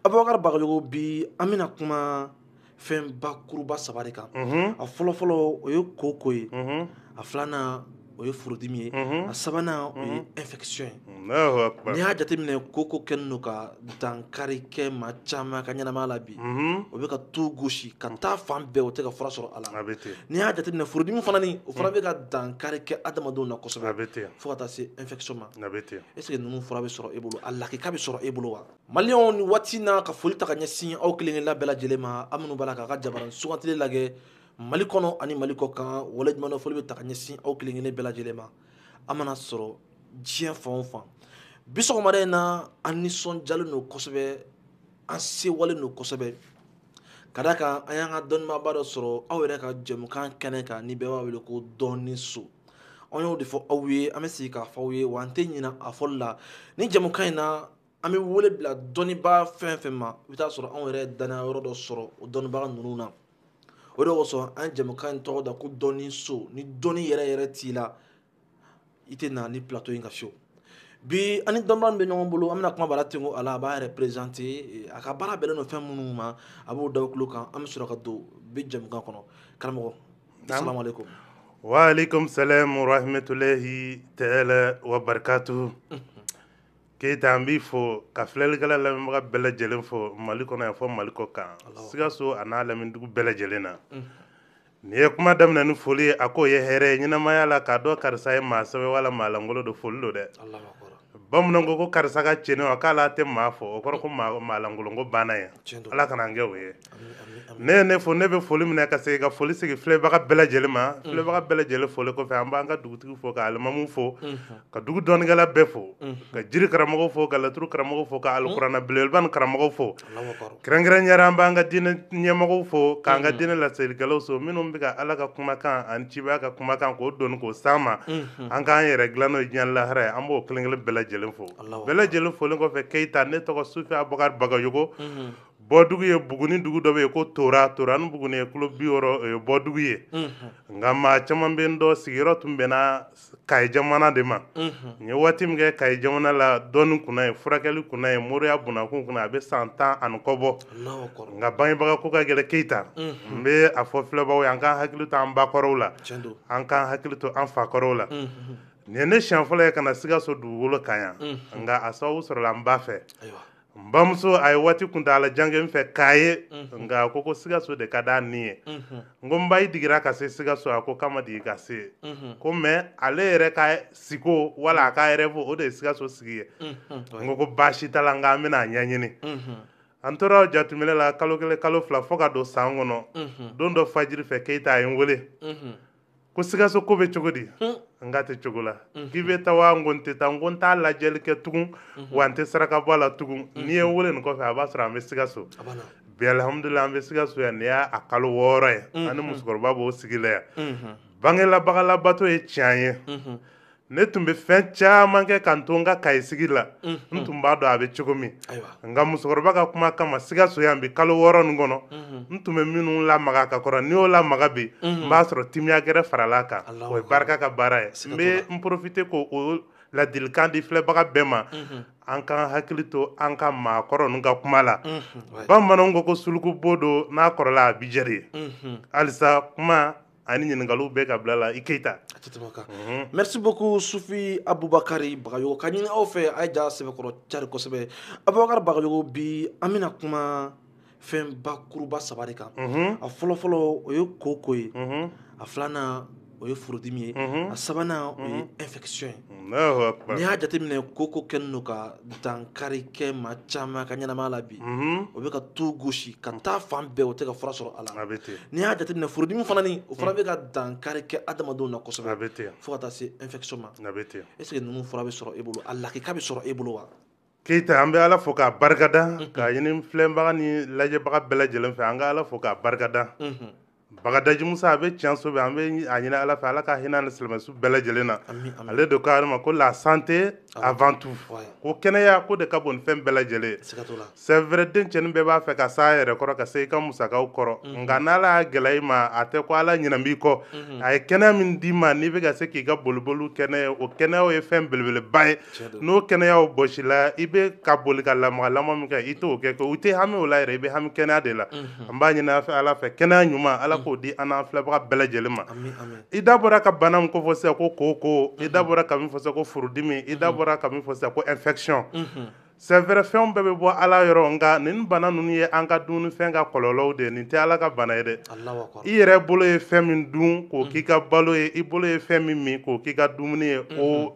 abubakar bagayogo bi an bɛna kuma fɛn bakuruba saba de kan mhm. a fɔlɔfɔlɔ o ye koko ye mhm. a filanan o ye furudimi ye mhm. a sabanan o ye infection ye n'i y'a jateminɛ koko kɛlen don ka dankari kɛ maa caman ka ɲɛnamaya la bi o bɛ ka tu gosi ka taa fan bɛɛ o tɛ ka fura sɔrɔ a la n'i y'a jateminɛ furudimi fana ni o fana bɛ ka dankari kɛ adamadenw na kosɛbɛ fo ka taa se infection ma est ce que ninnu fura bɛ sɔrɔ e bolo a lakika bɛ sɔrɔ e bolo wa Maliɲɔgɔnw ni waati na ka foli ta ka ɲɛsin aw kelenkelen bɛɛ lajɛlen ma aw minnu b'a la k'an ka jabara sugantili lajɛ mali kɔnɔ ani mali kɔkan waleɲumandɔn foli bɛ ta ka ɲɛsin aw kelenkelen bɛɛ lajɛlen ma aw mana sɔrɔ diɲɛ fan o fan bi sɔgɔmada in na an nisɔndiyalen don kosɛbɛ an sewalen don kosɛbɛ ka d'a kan an y'an ka dɔnnibaaba dɔ sɔrɔ aw yɛrɛ ka jɛmukan kɛnɛ kan ni bɛɛ b'a wele ko dɔnni so an y'o de fɔ aw ye an bɛ segin k'a fɔ aw ye wa an tɛ ɲinɛ a fɔli la ni jɛmukan in na an bɛ wele bila dɔnnibaa fɛn fɛn ma i bɛ t'a sɔrɔ anw yɛrɛ dannaya yɔrɔ dɔ sɔrɔ o dɔnnibaga ninnu na o de kosɔn an ye jɛmukan in tɔgɔ da ko dɔnni so ni dɔnni yɛrɛ yɛrɛ t'i la i tɛ na ni plateau in kan fiyewu bi an ni dɔnnibaga min bɛ ɲɔgɔn bolo an bɛna kuma bara tengo a la a b'a yɛrɛ prezante a ka baara bɛnnen don fɛn minnu ma a b'o d'aw tulo kan an bɛ sɔrɔ ka don bi jɛmukan kɔnɔ karamɔgɔ salamu aleykum waaleykum salaam wa rahmatulahi taala wa barakatuhu keyita an b'i fo ka filɛlikɛla lamɛnbaga bɛɛ lajɛlen fo mali kɔnɔ yan fo mali kɔkan sikaso a n'a laminidugu bɛɛ lajɛlen na n'i ye kuma daminɛ ni foli ye a k'o ye hɛrɛ ye ɲɛnamaya la k'a dɔn karisa ye maa sɛbɛ wala maa langolo don foli don dɛ bamananw ko ko karisa ka cɛɲi wa k'ale tɛ maa fo o kɔrɔ ko maa langolo ko banna ye ala kana an kɛ o ye e ye ne fo ne bɛ foli minɛ ka segin ka foli sigi filɛbaga bɛɛ lajɛlen ma filɛbaga bɛɛ lajɛlen foli kɔfɛ an b'an ka dugutigi fo ka alimamu fo ka dugu dɔnnikɛla bɛɛ fo ka jiri karamɔgɔ fo ka laturu karamɔgɔ fo ka alikuranɛ belebeleba nin karamɔgɔ fo kɛrɛnkɛrɛnnenya la an b'an ka diinɛ ɲɛmɔgɔw fo k'an ka diinɛ laselikɛlaw fo minnu bɛ ka ala ka kumakan ani cibaya ka kumakan k'o doni k'o s'an ma an k'an yɛrɛ dilan n'o ye diɲɛ lahara ye an b'o kelen kelen bɛɛ lajɛlen fo bɛɛ lajɛlen folen kɔfɛ keyita ne tɔgɔ sufi abubakar bagayogo bɔdugu ye buguni dugu dɔ bɛ yen ko tora tora ni buguni ye kilo bi wɔɔrɔ o ye bɔdugu ye nka maa caman bɛ n dɔn sigiyɔrɔ tun bɛnna kayi jamana de ma n ye waati min kɛ kayi jamana la dɔnni kunna ye furakɛli kunna ye moriya kunna kun kunna a bɛ san tan ani kɔ bɔ nka bangebaga ko ka gɛlɛn keyita n bɛ a fɔ filɛbaw ye an k'an hakili to an bakɔrɔw la an k'an hakili to an fakɔrɔw la nin ne siɲɛ fɔlɔ ye ka na sikaso dugukolo kan yan nka a sababu sɔrɔla n ba fɛ n bamuso a ye waati kuntaala jan kɛ n fɛ k'a ye mhm. nka a ko ko sikaso de ka d'a ni ye mhm. n ko n ba i digira ka se sikaso a ko k'a ma digi ka se mhm. ko mais ale yɛrɛ ka siko wala a ka rêve o de ye sikaso sigi ye n ko ko baasi t'a la nka an bɛna a ɲɛɲini an tora jateminɛ la kalo kelen kalo fila fo ka don san kɔnɔ don dɔ fajiri fɛ keyita a ye n wele ko sikaso ko bɛ cogo di n k'a tɛ cogo la k'i bɛ taa wa n ko n tɛ taa n ko n t'a lajɛli kɛ tugun wa n tɛ saraka bɔ a la tugun n'i ye n wele nin kɔfɛ a b'a sɔrɔ an bɛ sikaso bi alihamudulila an bɛ sikaso yan nin y'a kalo wɔɔrɔ ye an ni musokɔrɔba b'o sigi la yan bangelabaga labato ye tiɲɛ ye ne tun bɛ fɛn caman kɛ ka n to n ka kayi sigi la n tun b'a dɔn a bɛ cogo min nka musokɔrɔba ka kuma kama sikaso yan bi kalo wɔɔrɔ nin kɔnɔ n tun bɛ minnu lamaga ka kɔrɔ n'i y'o lamaga bi n b'a sɔrɔ timiya gɛrɛ faral'a kan o ye barika ka baara ye n bɛ n profiter k'o ladilikan di filɛbaga bɛɛ ma an k'an hakili to an ka maakɔrɔ ninnu ka kuma la bamananw ko ko suluku bo don n'a kɔrɔla a bi jɛ de ye halisa kuma ani ɲininkaliw b'e ka bila la i keyita mhm. merci beaucoup sufi abubakari bagayogo k'a ɲini aw fɛ a ye ja sɛbɛkɔrɔ cari kosɛbɛ abubakari bagayogo bi an bɛna kuma fɛn bakuruba saba de kan mhm. a fɔlɔfɔlɔ o ye koko ye mhm. a filanan o ye furudimi ye a sabanan o ye infection ye n'i y'a jateminɛ koko kɛlen don ka dankari kɛ maa caman ka ɲɛnamaya la bi mhm. o bɛ ka tu gosi ka taa fan bɛɛ o tɛ ka fura sɔrɔ a la n'i y'a jateminɛ furudimi fana ni o fana bɛ ka dankari kɛ adamadenw na kosɛbɛ fo ka taa se infection ma est ce que ninnu fura bɛ sɔrɔ e bolo a lakika bɛ sɔrɔ e bolo wa keyita an bɛ ala fo k'a barikada k'a ɲini filɛbaga ni lajɛbaga bɛɛ lajɛlen fɛ an ka ala fo k'a barikada bagadaji musa a bɛ tiɲɛso bi an bɛ a ɲini ala fɛ ala ka hinɛ ni silamɛ su bɛɛ lajɛlen na ale don k'a ma ko la santé avant tout ko kɛnɛya ko de ka bon ni fɛn bɛɛ lajɛlen c'est vrai denmisɛnnin bɛɛ b'a fɛ ka s'a yɛrɛ kɔrɔ ka se i ka musakaw kɔrɔ nka n' ala y'a gɛlɛya i ma a tɛ ko ala ɲinɛ b'i kɔ a ye kɛnɛya min d'i ma n'i bɛ ka se k'i ka boliboli kɛ n'a ye o kɛnɛya ye fɛn belebeleba ye n'o kɛnɛya bɔsila i bɛ ka boli ka lamaga lamaga min kɛ i t'o kɛ u tɛ hami o la yɛrɛ i bɛ hami kɛnɛya de la an b'a ɲini ala fɛ kɛnɛya ɲuman ala k'o di an filɛbaga bɛɛ lajɛlen ma i da bɔra ka bana min ko fɔ sa ko koko i da bɔra ka min fɔ ko furudimi i da bɔra ka min fɔ sa ko infection c'est vrai fɛnw bɛɛ bɛ bɔ ala yɔrɔ nka nin bana ninnu ye an ka dumunifɛn ka kɔlɔlɔw de ye nin tɛ ala ka bana ye dɛ i yɛrɛ bolo ye fɛn min dun k'o k'i ka balo ye i bolo ye fɛn min min k'o k'i ka dumuni ye o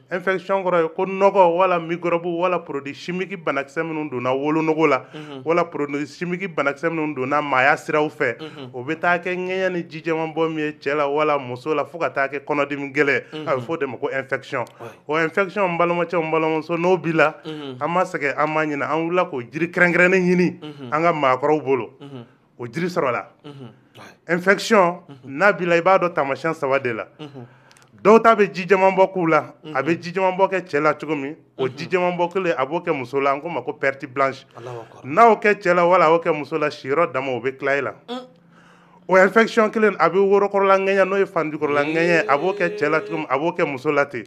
infection kɔrɔ ye ko nɔgɔ wala microbe wala produit chimique banakisɛ minnu donna wolonogo la mhm. wala produit chimique banakisɛ minnu donna maaya siraw fɛ mhm. o bɛ taa kɛ ŋɛɲɛ ni ji jɛman bɔ min ye cɛ la wala muso la fo ka taa kɛ kɔnɔdimi gɛlɛn mhm. a bɛ fɔ o de ma ko infection o infection n balimacɛ n balimamuso n'o b'i la an ma sɛgɛn an ma ɲinɛ an wulila k'o jiri kɛrɛnkɛrɛnnen ɲini an ka maakɔrɔw bolo o jiri sɔrɔla infection n'a b'i la i b'a dɔn taamasiyɛn saba de la dɔw ta bɛ ji jɛman bɔ k'u la a bɛ ji jɛman bɔ kɛ cɛ la cogo min o ji jɛman bɔ kelen a b'o kɛ muso la an k'o ma ko perte blanche n'a y'o kɛ cɛ la wala a y'o kɛ muso la siyɔrɔ daamu o bɛ tila e la o infection kelen a bɛ worokɔrɔla ŋɛɲɛ n'o ye fanjukɔrɔla ŋɛɲɛ a b'o kɛ cɛ la cogo min a b'o kɛ muso la ten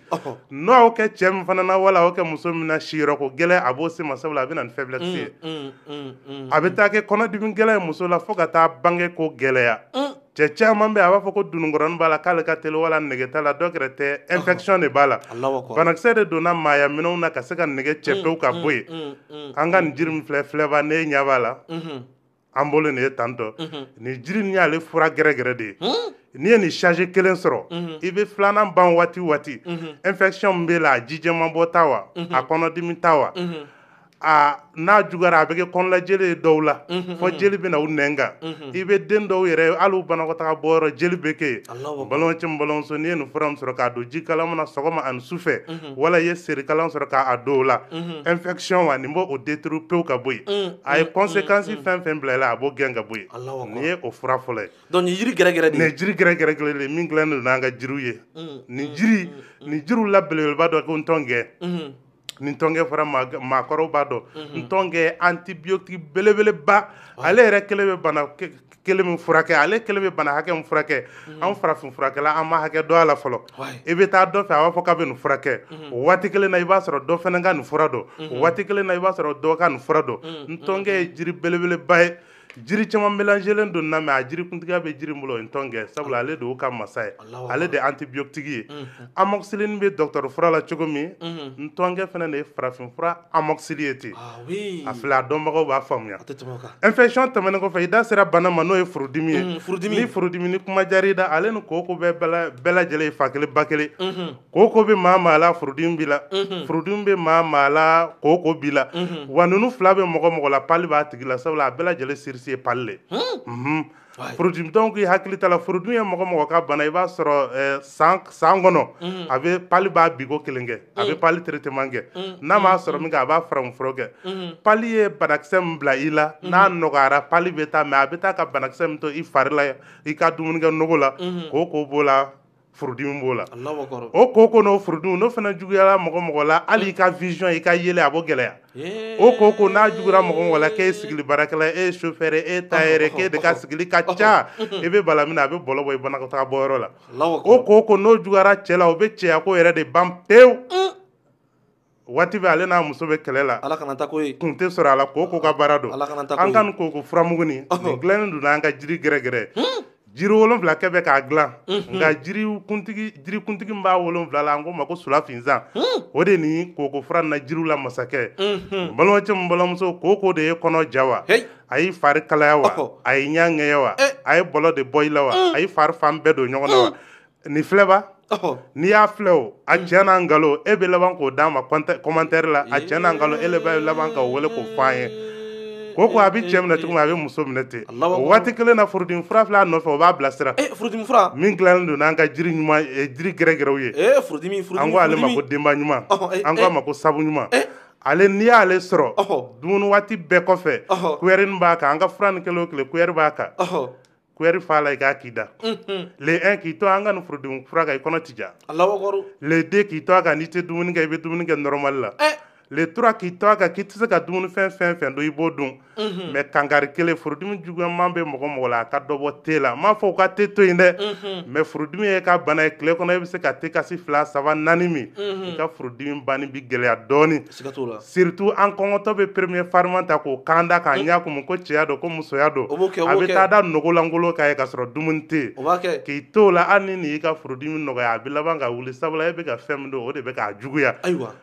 n'a y'o kɛ cɛ min fana na wala a y'o kɛ muso min na siyɔrɔ ko gɛlɛn a b'o se ma sabula a bɛ na ni faiblesse ye mm, mm, a bɛ taa kɛ kɔnɔdimi gɛlɛn ye muso la fo ka taa bange ko gɛlɛya mm. cɛ caman bɛ a b'a fɔ ko dununkɔrɔnin b'a la k'ale ka teli wala nege t'a la dɔ wɛrɛ tɛ infection de b'a la banakisɛ de donna maaya minɛnw na ka se ka nege cɛ pewu ka bɔ yen an ka nin jiri min filɛ filɛba ne ɲɛ b'a la mm-hmm. an bolo nin ye tantɔ mm-hmm. nin jiri nin y'ale fura gɛrɛgɛrɛ de ye hmm? n'i ye nin charge kelen sɔrɔ mhm. i bɛ filanan ban waati waati mhm. infection min b'e la a ji jɛman bɔ ta wa mhm. a kɔnɔdimi ta wa a n'a juguyara a bɛ kɛ kɔnɔnajeli ye dɔw la fo jeli bɛ na u nɛn kan i bɛ den dɔw yɛrɛ hali u banakɔtaga bɔyɔrɔ jeli bɛ kɛ yen Alahu akibaru. balimamuso ni balimamuso n'i ye nin fura min sɔrɔ k'a don ji kalaman na sɔgɔma ani su fɛ wala i ye serikalan sɔrɔ k'a don o la infection wa nin b'o détruire pewu ka bɔ yen a ye conséquence fɛn fɛn bila i la a b'o gɛn ka bɔ yen Alahu akibaru. nin ye o fura fɔlɔ ye donc nin jiri gɛrɛgɛrɛ de nin ye ye jiri gɛrɛgɛrɛ kelen de ye min dilannen don n'an ka jiriw ye nin jiri nin jiriw la belebeleba dɔ ko ntɔngɛ ni ntɔnkɛ fɔra maakɔrɔw b'a dɔn mhm. ntɔnkɛ antibiotique belebeleba ale yɛrɛ kelen bɛ bana kelen min furakɛ ale kelen bɛ bana hakɛ min furakɛ mhm. an farafin furakɛla an ma hakɛ dɔn a la fɔlɔ i bɛ taa dɔ fɛ a b'a fɔ k'a bɛ nin furakɛ mhm. waati kelen na i b'a sɔrɔ dɔ fana ka nin fura dɔn waati kelen na i b'a sɔrɔ dɔ ka nin fura dɔn ntɔnkɛ ye jiri belebeleba ye jiri caman mélangélen don na mais a jiri kuntigiya bɛ jiri bolo o ye ntɔnkɛ sabula ale de y'o ka masa ye ale de ye antibiotique ye amoxicilline bɛ docteur fura la cogo min ntɔnkɛ fana de ye farafin fura amoxicilline ye ten a filɛ a dɔnbagaw b'a faamuya infection tɛmɛnen kɔfɛ i da sera bana ma n'o ye furudimi ye ni furudimi ni kuma diyara i da ale ni koko bɛɛ bɛɛ lajɛlen ye fa kelen ba kelen koko bɛ maa maa la furudimi b'i la furudimi bɛ maa maa la koko b'i la wa ninnu fila bɛ mɔgɔ mɔgɔ la palu b'a tigi la sabula a bɛɛ lajɛlen source ye palu le unhun furudimi donc i hakili t'a la furudimi ye mɔgɔ mɔgɔ ka bana i b'a sɔrɔ eh, san san kɔnɔ a bɛ palu b'a biko kelen kɛ a bɛ palu traitement kɛ n'a ma sérum kɛ a b'a farafin fura kɛ palu ye banakisɛ min bila i la n'a nɔgɔyara palu bɛ taa mais a bɛ taa ka banakisɛ min to i fari la i ka dumunikɛ nogo la koko b'o la furudimi b'o la o koko n'o furudimi n'o fana juguyara mɔgɔ mɔgɔ la hali i ka vision i ka yeli a b'o gɛlɛya o koko n'a jugura mɔgɔ mɔgɔ la k'e ye sigili baarakɛla e ye chauffeur e tailleur k'e de ka sigili ka ca i bɛ bala min na a bɛ bɔlɔ bɔ i banakɔtaga bɔyɔrɔ la o koko n'o juguyara cɛ la o bɛ cɛyako yɛrɛ de ban pewu waati bɛɛ ale n'a muso bɛ kɛlɛ la kun tɛ sɔrɔ a la koko ka baara don an ka nin koko furamugunin dilannen don n'an ka jiri gɛrɛgɛrɛ hmm? jiri wolonwula kɛ bɛ k'a dilan hmm. nka jiri kuntigi min b'a wolonwula la an k'o ma ko sulafinsan hmm. o de ni koko fura na jiriw la masakɛ balimacɛ min balimamuso koko de y'i kɔnɔ ja wa a y'i fari kalaya wa a y'i ɲɛ ŋɛɲɛ wa eh. a ye bɔlɔ de bɔ i la wa a y'i fari fan bɛɛ don ɲɔgɔn na wa nin filɛba n'i y'a filɛ o a cɛ n'a nkalon e bɛ laban k'o d'a ma kɔmantɛri la a cɛ n'a nkalon e bɛ laban ka wele k'o fɔ an ye koko a bɛ cɛ minɛ cogo min a bɛ muso minɛ ten waati kelen na furudimi fura filɛ a nɔfɛ o b'a bilasira e min dilannen don n'an ka jiri ɲuman jiri gɛrɛgɛrɛw ye e an ko ale ma ko denba ɲuman an k'a ma ko sabu ɲuman e! ale n'i y'ale sɔrɔ dumuni waati bɛɛ kɔfɛ kuyɛri b'a kan an ka furanin kelen o kelen kuyɛri b'a kan kuyɛri fa la i k'a k'i da le 1 k'i to an ka nin furudimi fura kan i kɔnɔ ti ja le 2 k'i to a kan n'i tɛ dumuni kɛ i bɛ dumuni kɛ normal la le 3 k'i to a kan k'i tɛ se ka dumuni fɛn fɛn fɛn dun i b'o dun mais kankari kelen furudimi juguyaman bɛ mɔgɔ mɔgɔ la a ka dɔ bɔ te la n m'a fɔ u ka te to yen dɛ mais furudimi y'e ka bana ye tile kɔnɔ e bɛ se ka te kasi fila saba naani min i ka furudimi banni bi gɛlɛya dɔɔnin surtout an kɔngɔtɔ bɛ premier fariman ta k'o kan da k'a ɲɛ kumu ko cɛya don ko musoya don a bɛ taa da nugu lankolon kan yen ka sɔrɔ dumuni tɛ k'i to o la hali n'i y'i ka furudimi nɔgɔya a bɛ laban ka wuli sabula e bɛ ka fɛn min dun o de bɛ k'a juguya ayiwa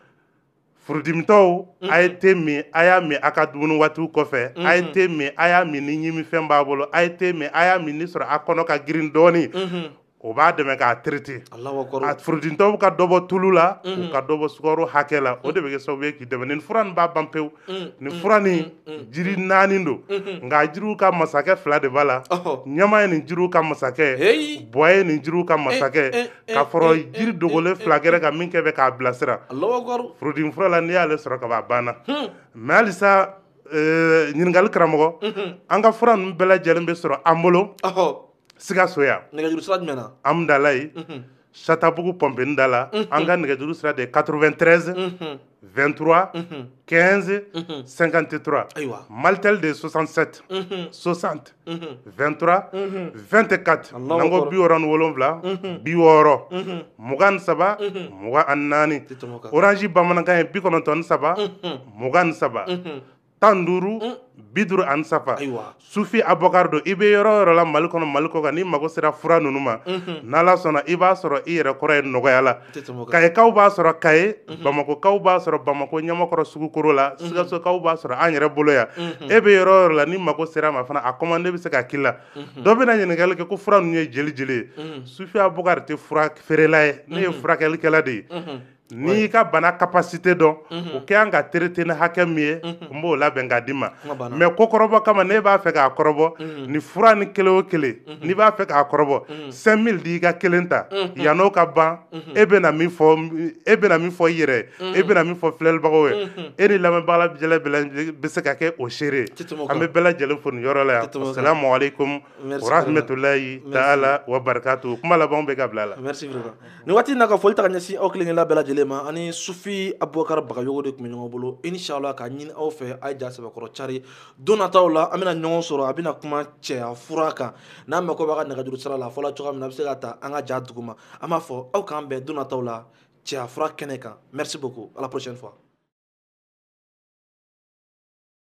furudimitɔw a ye te min a y'a min a ka dumuni waatiw kɔfɛ a ye te min a y'a min ni ɲimifɛn b'a bolo a ye te min a y'a min ni sɔrɔ a kɔnɔ ka girin dɔɔnin o b'a dɛmɛ k'a traité a furudimitɔw ka dɔ bɔ tulu la u mm. ka dɔ bɔ sukaro hakɛ la o de bɛ kɛ sababu ye k'i dɛmɛ nin fura nin b'a ban pewu mm. nin fura mm. nin jiri naani don mm-hmm. nka jiriw ka masakɛ fila de b'a la ɲama ye nin jiriw ka masakɛ bɔ ye nin jiriw ka eh, masakɛ eh, eh, ka fara jiri dogolen fila gɛrɛ kan min kɛ bɛ k'a bilasira furudimi fura la n'i y'ale sɔrɔ ka ban a banna hmm. mais halisa ɲininkali karamɔgɔ mm-hmm. an ka fura ninnu bɛɛ lajɛlen bɛ sɔrɔ an bolo sikaso yan nɛgɛjuru sira jumɛn na hamudalayi satabugu pɔnpenin da la an ka nɛgɛjuru sira de ye 93 23 15 53 ayiwa malitel de ye 67 60 23 24 Allahu n'an ko akbar. bi wɔɔrɔ ni wolonwula bi wɔɔrɔ mugan ni saba mugan ani naani Tɛ tɛmɛ o kan. orange bamanankan ye bi kɔnɔntɔn ni saba mugan ni saba tan duuru mm. bi duuru ani saba sufi abubakar don i bɛ yɔrɔ o yɔrɔ la mali kɔnɔ mali kɔ kan n'i mago sera fura ninnu ma mhm. n'ala sɔnna i b'a sɔrɔ i yɛrɛ kɔrɔ yen nɔgɔya la kayekaw b'a sɔrɔ kaye mhm. bamakokaw b'a sɔrɔ bamako ɲamakɔrɔ sugu koro la mhm. sikasokaw b'a sɔrɔ an yɛrɛ bolo yan e bɛ yɔrɔ o yɔrɔ la n'i mago sera ma fana a commande bɛ se ka k'i la dɔ bɛna ɲininkali kɛ ko fura ninnu ye jeli jeli ye sufi abubakar tɛ fura feerela ye ne ye furakɛlikɛla de ye n'i y'i ka bana capacité dɔn o kɛ an ka traiter ni hakɛ min ye n b'o labɛn k'a d'i ma mais ko kɔrɔbɔ kama n'e b'a fɛ k'a kɔrɔbɔ nin fura nin kelen o kelen n'i b'a fɛ k'a kɔrɔbɔ cinq mille di i ka kelen ta yann'o ka ban e bɛ e bɛna min fɔ i yɛrɛ e bɛna min fɔ filɛlibagaw ye e ni lamɛnbaga lajɛlen bɛ se ka kɛ o seere an bɛ bɛɛ lajɛlen fo nin yɔrɔ la yan assalamu alaikum wa rahmatulahi taala wa barakatuhu kuma laban bɛ kabila la nin waati na ka foli ta ka ɲɛsin aw kelen-kelenna bɛɛ lajɛlen ma an ni sufi abubakar bagayogo de tun bɛ ɲɔgɔn bolo inshallah k'a ɲini aw fɛ a ye ja sɛbɛkɔrɔ cari don nataw la an bɛna ɲɔgɔn sɔrɔ a bɛna kuma cɛya fura kan n'a mako b'a ka nɛgɛjuru sira la a fɔla cogoya min na a bɛ se k'a ta an ka ja duguma an b'a fɔ aw k'an bɛn don nataw la cɛya fura kɛnɛ kan merci beaucoup à la prochaine fois